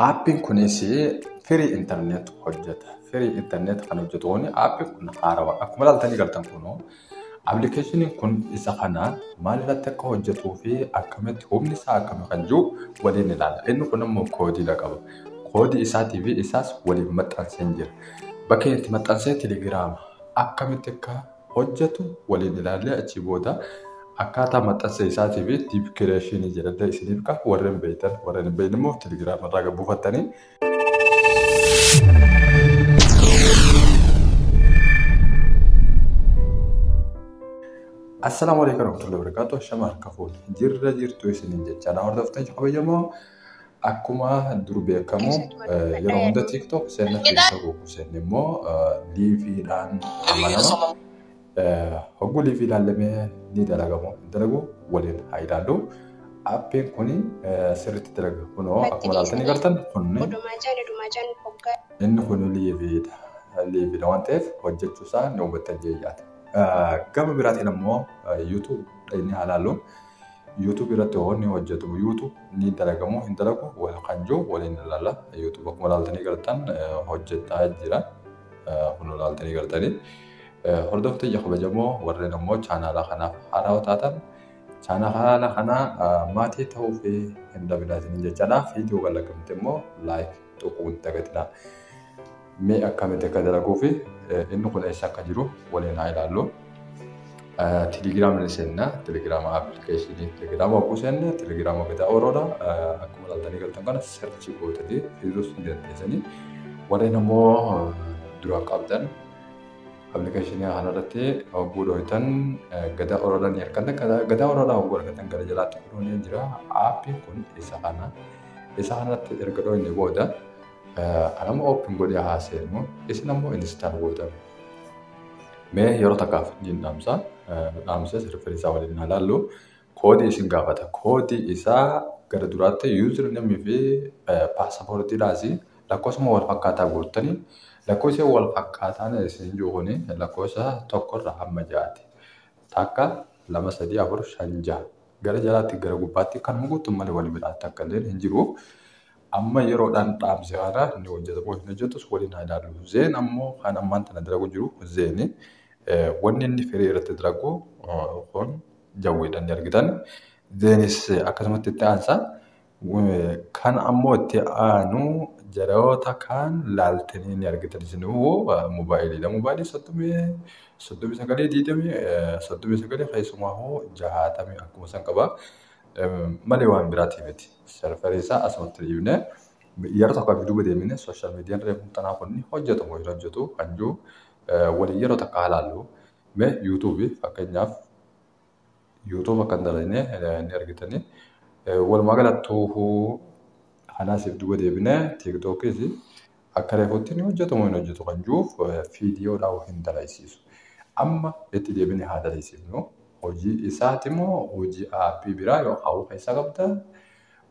Aappiin kunis firii internet hojjeta. Firii internet kan hojjetu kun aappiin kun haarawa. Akkuma ilaaltanii galtan kun appilikeeshiniin kun isa kana maal irratti akka hojjetuu fi akkamitti humni isaa akkami kan jiru waliin ilaala. Inni kun immoo koodiidha qaba. Koodii isaatii fi isaas waliin maxxansee jira. Bakka itti maxxansee telegiraama akkamitti akka hojjatu waliin ilaallee achii booda akkaataa maxxansa isaatii fi diip kireeshinii jedhadda isiniif ka warren beeytan warren hin beeyne immoo telegiraama irraa gad buufattanii Assalaamu alaikum warahmatullahi wabarakatuh. Shama harka fuudhe. Jirra jirtu isiniin jecha na hordoftee kabajamoo Akkuma dur beekamu yeroo hunda TikTok seenna keessa buuku seenni immoo liiviidhaan amanama. Hogguu liivii ilaallamee ni dalagamu hin dalagu waliin haa ilaallu. Appiin kun sirriitti dalaga. Kunoo akkuma ilaaltanii gartan kunni inni kun liiviidha. Liiviidha waan ta'eef hojjechuusaa ni hubattan jeeyyaadha. Gama biraatiin ammoo YouTube dhaqnee haa ilaallu. YouTube irratti hoo ni hojjatamu YouTube ni dalagamu hin dalagu wal kan jiru waliin ilaalla YouTube akkuma ilaaltanii gartan hojjetaa jira kun ilaaltanii gartanii hordofte ija kabajamoo warreen ammoo chaanaalaa kanaaf haaraa taatan chaanaala kana maatii ta'uu fi hin dhabinaa isiniin jechaadha viidiyoo kan lakkifte immoo laayik tuquun dagatinaa. Mee akkamitti akka dalaguu fi inni kun eessa akka jiru waliin haa ilaallu. Telegiraama ni seenna. Telegiraama appilikeeshinii telegiraama hogguu seenne telegiraama gadaa ooroodha. Akkuma ilaaltanii galtan kana sarchii gootanii fiduus ni dandeessanii. Warreen ammoo duraan qabdan appilikeeshinii kanarratti hogguu dhooytan gadaa ooroodha ni argattan. Gadaa ooroodha hogguu argattan gara jalaatti fiduun ni jira. Aappiin kun isa kana. Isa kanatti erga dhooyne booda Anammoo open godhee haa seenu. Isin ammoo install gootan. Mee yeroo takkaaf niin dhaamsa. Nu dhaamsee sirriiffin isaa waliin haa laallu. Koodii isin gaafata. Koodii isaa gara duraatti user name fi paaspoortiidhaas lakkoofsuma wal fakkaataa guuttanii lakkoofsi wal fakkaataan isin jiru kun lakkoofsa tokkorra hamma jaati. Takka lama sadii afur shan jaha. Gara jalaatti gara gubbaatti kanuma guuttun malee wal biraatti akka illee hin jiru. Amma yeroodhaan dhaamsi haaraa ni hojjeta moo hin hojjetus waliin haa ilaallu. Zeen ammoo kan ammaan tana dalagu jiru zeeni wanni inni firii irratti dalagu kun jawweedhaan ni argitan. Zeenis akkasumatti itti aansa. Kan ammoo itti aanu jaraoota kaan laaltanii ni argitan isinuu moobaayiliidha. Moobaayilii soddomii soddomii sagalee diidamii soddomii sagalee keessumaa hoo jahaatamii akkuma san qaba. Malee waan biraatii miti. Serverii isaa asumatti dhiibne yeroo tokko akka duuba deemine sooshaal miidiyaan reefu tanaa kun ni hojjetu moo hin hojjetu kan jiru waliin yeroo takka halaallu mee yuutuubii fakkeenyaaf yuutuuba kan dalagne ni argitanii walumaa galattuu kanaasiif duuba deebine tiiktookis Akka reefuutti ni hojjeta moo hin hojjetu kan jiruuf viidiyoodhaan hin dalaysiisu. Amma itti deebinee haa dalaysiifnu. Hojii isaati moo hojii aappii biraa yookaan of keessaa qabda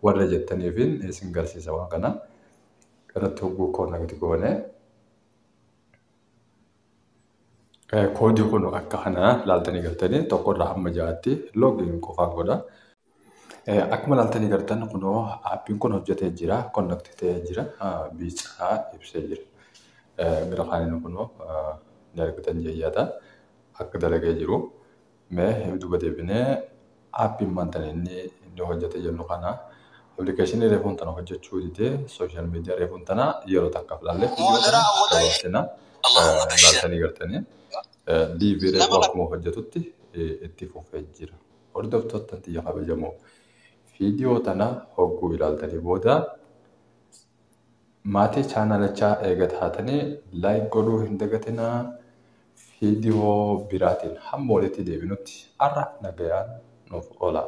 warra jettaniifin isin garsiisa waan kana. Irratti hogguu koonnekti goone. Koodii kun akka kana laaltanii galtanii tokkorraa hamma ja'aatti loogiin qofaan godha. Akkuma ilaaltanii gartan kunoo aappiin kun hojjetee jira. Connect ta'ee jira. Biicaa ibsee jira. Gara kaaniin kunoo ni argitan jeeyyaata. Akka dalagee jiru. Mee duuba deebinee aappiin maanta inni inni hojjetee jennu kana appilikeeshinii reefuun tana hojjechuu didee sooshaal miidiyaa reefuun tana yeroo takkaaf ilaallee dabarsina. Ilaaltanii gartanii. Diibii reefuu akkuma hojjetutti itti fufee jira. Hordoftootta tiyya kabajamoo video tana hogguu ilaaltanii booda maatii chaanalachaa eega taatanii like godhuu hin dagatinaa video biraatiin hamma walitti deebinutti arraaf nagayaan nuuf olaa.